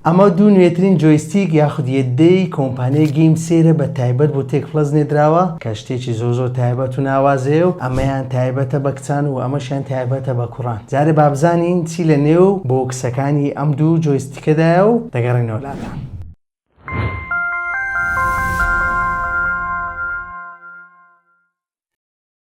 ئەمە دوو نوێترین جۆیستیک یاخود یەدەی کۆمپانیای گەیم سێرە بە تایبەت بۆ تێک پڵەس نێدراوە کە شتێکی زۆر زۆر تایبەت و ناوازەیە و ئەمەیان تایبەتە بە کچان و ئەمەشیان تایبەتە بە کوڕان جارێ با بزانین چی لە نێو بۆکسەکانی ئەم دوو جۆیستیکەدایە و دەگەڕێینەوە لاتان.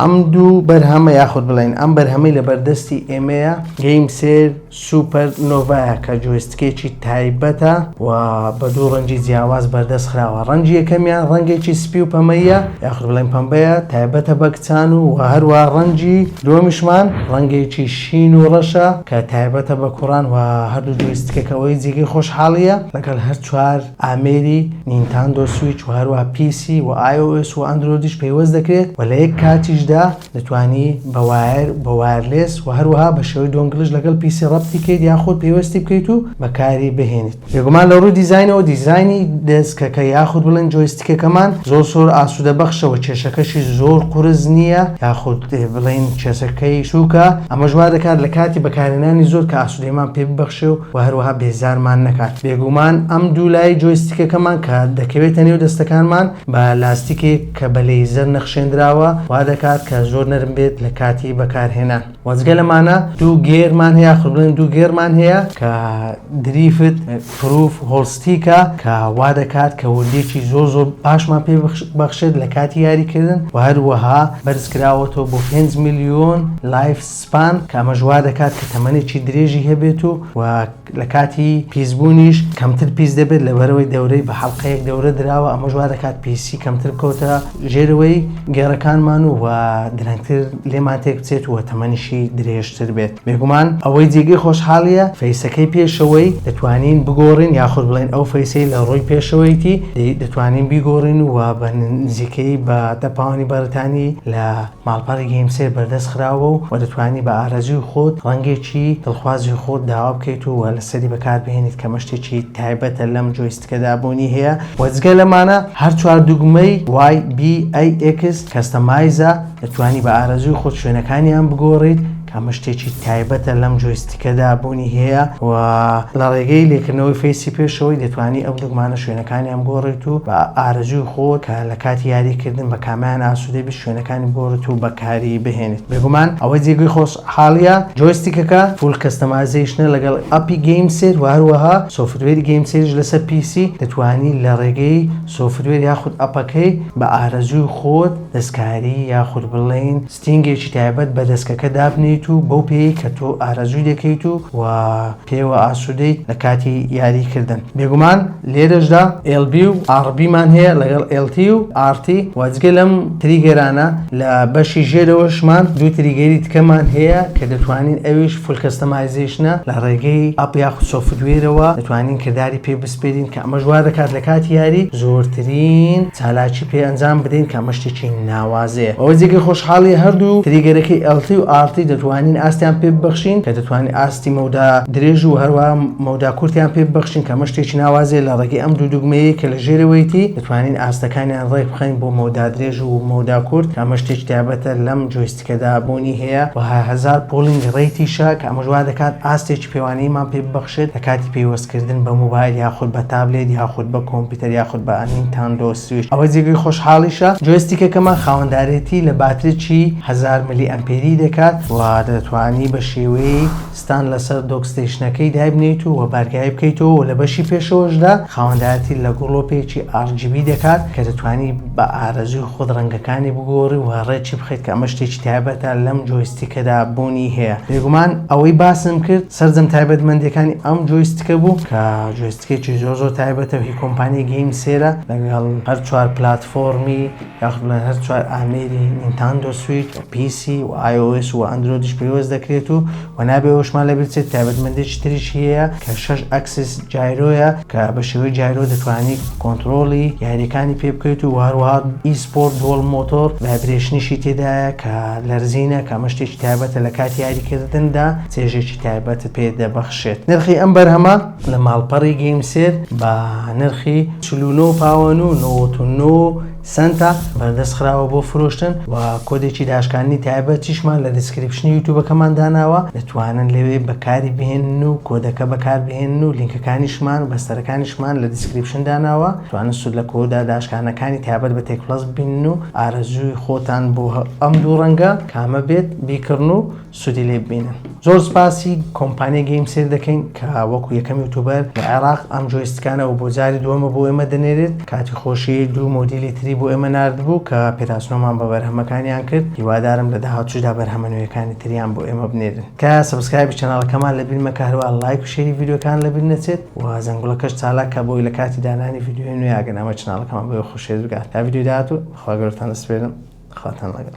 ئەم دوو بەرهەمە یاخود بڵێن ئەم بەرهەمەی لە بەردەستی ئێمەیە گەیم سێر سوپەر نۆڤایە کە جوێستکێکی تایبەتە و بە دوو ڕەنجی جیاواز بەردەست خراوە ڕەنجی یەکەمیان ڕەنگێکی سپی و پەمەیە یاخود بڵێن پەمبەیە تایبەتە بە کچان و و هەروە ڕەنجی دووەمیشمان ڕەنگێکی شین و ڕەشە کە تایبەتە بە کوڕان و هەردوو جوێستکەکەوەی جێگەی خۆشحاڵییە لەگەڵ هەر چوار ئامێری نینتاندۆ سویچ و هەروەها پی سی و ئای ئۆ ئێس و ئەندرۆیدیش پەیوەست دەکرێت و لە یەک کاتیشدا دەتوانی بە وایەر بە وایەرلێس و هەروەها بە شێوەی دۆنگلش لەگەڵ پی سی ڕەبتی بکەیت یاخود پەیوەستی بکەیت و بەکاری بهێنیت. بێگومان لە ڕووی دیزاینەوە دیزاینی دێسکەکە یاخود بڵێن جۆیستیکەکەمان زۆر زۆر ئاسوودە بەخشە و کێشەکەشی زۆر قورس نییە یاخود بڵێن کێسەکەی سووکە ئەمەش وا دەکات لە کاتی بەکارهێنانی زۆر کە ئاسوودەیمان پێ ببەخشێ و و هەروەها بێزارمان نەکات. بێگومان ئەم دوو لای جۆیستیکەکەمان کە دەکەوێتە نێو دەستەکانمان بە لاستیکێک کە بە لەیزەر نەخشێندراوە وادەکات کە زۆر نەرم بێت لە کاتی بەکارهێنان. وە جگە لەمانە دوو گێرمان هەیە یاخود بڵێن دوو گێرمان هەیە کە دریفت پروف هۆڵستیکە کە وادەکات کە وردیەکی زۆر زۆر باشمان پێ بەخشێت لە کاتی یاریکردن و هەروەها بەرزکراوەتەوە بۆ پێنج ملیۆن لایف سپان، کە ئەمەش وا دەکات کە تەمەنێکی درێژی هەبێت و و لە کاتی پیسبوونیش کەمتر پیس دەبێت لەبەرئەوەی دەورەی بە حەڵقەیەک دەورە دراوە ئەمەش وا دەکات پیسی کەمتر بکەوتە ژێرەوەی گێڕەکانمان و و درەنگتر لێمان تێک بچێت و تەمەنیشی درێژتر بێت بێگومان ئەوەی جێگەی خۆشحاڵییە فەیسەکەی پێشەوەی دەتوانین بگۆڕین یاخود بڵێین ئەو فەیسەی لە ڕووی پێشەوەیەتی دەتوانین بیگۆڕین و و بە نزیکەیی بە دە پاوەنی بەڕیتانی لە ماڵپەڕی گەیمسێر بەردەست خراوە و دەتوانی بە ئارەزووی خۆت ڕەنگێکی دڵخوازی خۆت داوا بکەیت و لەسەری بەکار بهێنیت کە مەشتێکی تایبەتە لەم جۆیستکەدا بوونی هەیە و جگە لەمانە هەر چوار دوگمەی YBAX کەستەمایزە دەتوانی بە ئارەزووی خۆت شوێنەکانیان بگۆڕیت ئەمە شتێکی تایبەتە لەم جۆیستیکەدا بوونی هەیە و لە ڕێگەی لێکردنەوەی فەیسی پێشەوەی دەتوانی ئەو دوگمانە شوێنەکانیان بگۆڕیت و بە ئارەزووی خۆت کە لە کاتی یاریکردن بە کامیان ئاسوودە بیت شوێنەکانی بگۆڕیت و بەکاری بهێنیت بێگومان ئەوە جێگەی خۆشحاڵییە جۆیستیکەکە فول کەستەمایزەیشنە لەگەڵ ئەپی گەیم سێت و هەروەها سۆفتوێری گەیم سێتیش لەسەر پی سی دەتوانی لە ڕێگەی سۆفتوێر یاخود ئەپەکەی بە ئارەزووی خۆت دەستکاری یاخود بڵێین ستینگێکی تایبەت بە دەسکەکە دابنێیت و بەو پێیەی کە تۆ ئارەزووی دەکەیت و پێیەوە ئاسوودەیت لە کاتی یاریی کردن. بێگومان لێرەشدا LB و RB مان هەیە لەگەڵ LT و RT و جگە لەم تریگەرانە لە بەشی ژێرەوەشمان دوو تریگەری تکەمان هەیە کە دەتوانین ئەویش فول کەستەمایزەیشنە لە ڕێگەی ئەپ یاخود سۆفتوێرەوە دەتوانین کرداری پێ سپێرین کە ئەمەش وا دەکات لە کاتی یاری زۆرترین چالاکی پێ ئەنجام بدەین کە ئەمە شتێکی ناوازەیە ئەوە جێگەی خۆشحاڵیە هەردوو تریگەرەکەی ئێڵتی و ئاڕتی دەتوانین ئاستیان پێ ببەخشین کە دەتوانین ئاستی مەودا درێژ و هەروە مەودا کورتیان پێ ببەخشین کە ئەمە شتێکی ناوازەیە لە ڕێگەی ئەم دوو دوگمەیە کە لە ژێرەوەیتی دەتوانین ئاستەکانیان ڕێک بخەین بۆ مەودا درێژ و مەودا کورت کە ئەمە شتێکی تایبەتە لەم جۆیستیکە تێدا بوونی هەیە و هەزار پوڵینگ ڕەیتیشە کە ئەمەش وا دەکات ئاستێکی پێوانەییمان پێ ببەخشێت لە کاتی پەیوەستکردن بە موبایل یاخود بە تابلێت یاخود بە کۆمپیوتەر یاخود بە نینتاندۆ سویچ ئەوە جێگەی خۆشحاڵیشە جۆیستیکەکەمان خاوەندارێتی لە باتریی هەزار ملی ئەمپێری دەکات و دەتوانی بە شێوەی ستان لەسەر دۆک ستەیشنەکەی دایبنێیت و بارگای بکەیتەوە و لە بەشی پێشەوەشدا خاوەندارەتی لە گڵۆپێکی RGB دەکات کە دەتوانی بە ئارەزووی خۆت ڕەنگەکانی بگۆڕی و ڕێکی بخەیت کە ئەمە شتێکی تایبەتە لەم جۆیستیکەدا بوونی هەیە بێگومان ئەوەی باسم کرد سەرجەم تایبەتمەندیەکانی ئەم جۆیستیکە بوو کە جۆیستیکێکی زۆر زۆر تایبەتە و هی کۆمپانیای گەیم سێرە لەگەڵ هەر چوار پلاتفۆرمی یاخود بڵێن هەر چوار ئامێری نینتاندۆ سویچ و پی سی و ئای ئۆ ئێس و ئەندرۆیدیش پەیوەست دەکرێت و و نابێ ئەوشمان لەبیر چێت تایبەتمەندێکی تریش هەیە کە شەش ئەکسس جایرۆیە کە بە شێوەی جایرۆ دەتوانی کۆنترۆڵی یاریەکانی پێ بکەیت و هەروەها ئی سپۆرت دووەڵ مۆتۆر ڤایبرێشنیشی تێدایە کە لەرزینە کە ئەمە شتێکی تایبەتە لە کاتی یاریکردندا چێژێکی تایبەتت پێ دەبەخشێت نرخی ئەم بەرهەمە لە ماڵپەڕی گەیمسێت بە نرخی چل و نۆ پاوەن و نەوەد و نۆ سەنتە بەردەست خراوە بۆ فرۆشتن و کۆدێکی داشکاندنی تایبەتیشمان لە دیسکریپشنی یوتوبەکەمان داناوە دەتوانن لەوێ بەکاری بهێنن و کۆدەکە بەکاربهێنن و لینکەکانیشمان و بەستەرەکانیشمان لە دیسکریپشن داناوە توانن سود لە کۆدە داشکانەکانی تایبەت بە تێک پڵەس ببینن و ئارەزووی خۆتان بۆ ئەم دوو ڕەنگە کامە بێت بیکڕن و سودی لێ ببینن زۆر سپاسی کۆمپانیای گەیم سێر دەکەین کە وەکو یەکەم یوتوبەر لە عێراق ئەم جۆیستکانەوە بۆ جاری دووەمە بۆ ئێمە دەنێرێت کاتی خۆشی دوو مۆدیلی تری بۆ ئێمە ناردبوو کە پێداسنۆمان بە بەرهەمەکانیان کرد هیوادارم لە داهاتووشدا بەرهەمە نوێیەکانی تریان بۆ ئێمە بنێرن کە سبسکرایبی چەناڵەکەمان لە بیر مەکە هەروە لایک و شێری ڤیدیۆکان لە بیر نەچێت و زەنگوڵەکەش چالاکە بۆی لە کاتی دانانی ڤیدیۆی نوێ ئەگەر ئەمە چناڵەکەمان بۆ خۆشێت بگات تا ڤیدیۆ داهاتوو خواگەورتان دەسپێرم خواتان لەگەڵ